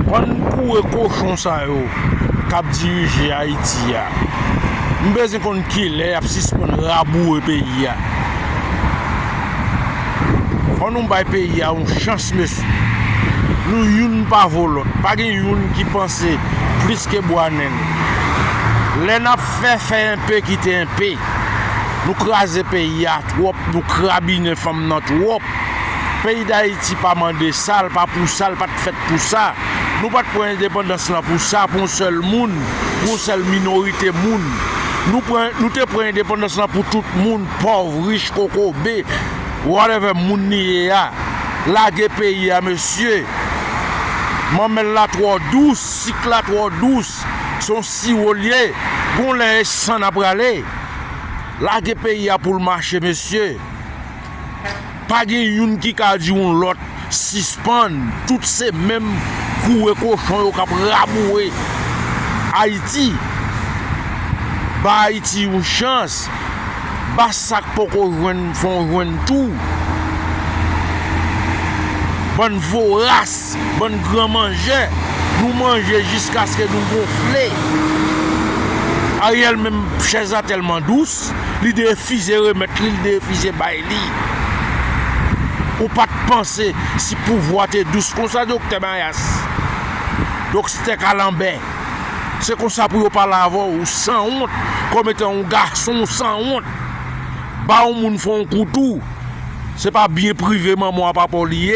Bann koure kochon sa yo kap dirije ayiti a m bezwen konn kilè yap sispann raboure peyi a fò nou bay peyi a yon chans mesye nou youn pa vo lòt pa gen youn ki panse plis ke bwa nen lè nap fè fè enpe kite enpe nou kraze peyi a twòp nou krabinen fanm nan twòp. Peyi Dayiti pa mande sa, l pa pou sa, l pa t fèt pou sa. Nou pa t pran endepandans lan pou sa, pou yon sèl moun, pou yon sèl minorite moun. Nou pran, nou te pran endepandans lan pou tout moun, pòv, rich, kokobe, whatever moun li ye a. Lage peyi a mesye. Manmèl la twò dous, sik la twò dous. Se yon siwo l ye. Gon lè e san n a prale. Lage peyi a pou l mache mesye. pa gen youn ki ka di yon lòt sispann, tout se menm koure kochon yo k ap raboure Ayiti, bay Ayiti yon chans, ba sa k poko jwenn fè w jwenn tou, bann voras, bann gran manjè, nou manje jiskaske nou gonfle, Ariel menm chèz la tèlman dous. plas li te refize remèt li, li te refize bay li. Ou pa t panse si pouvwa te dous konsa doktè mayas, doktè kalanbè, se konsa pou yo pale avè w, ou sanwont kòm etan yon gason ou sanwont. Ba yon moun fè yon kou tou, se pa byen prive manman w a papa w li ye.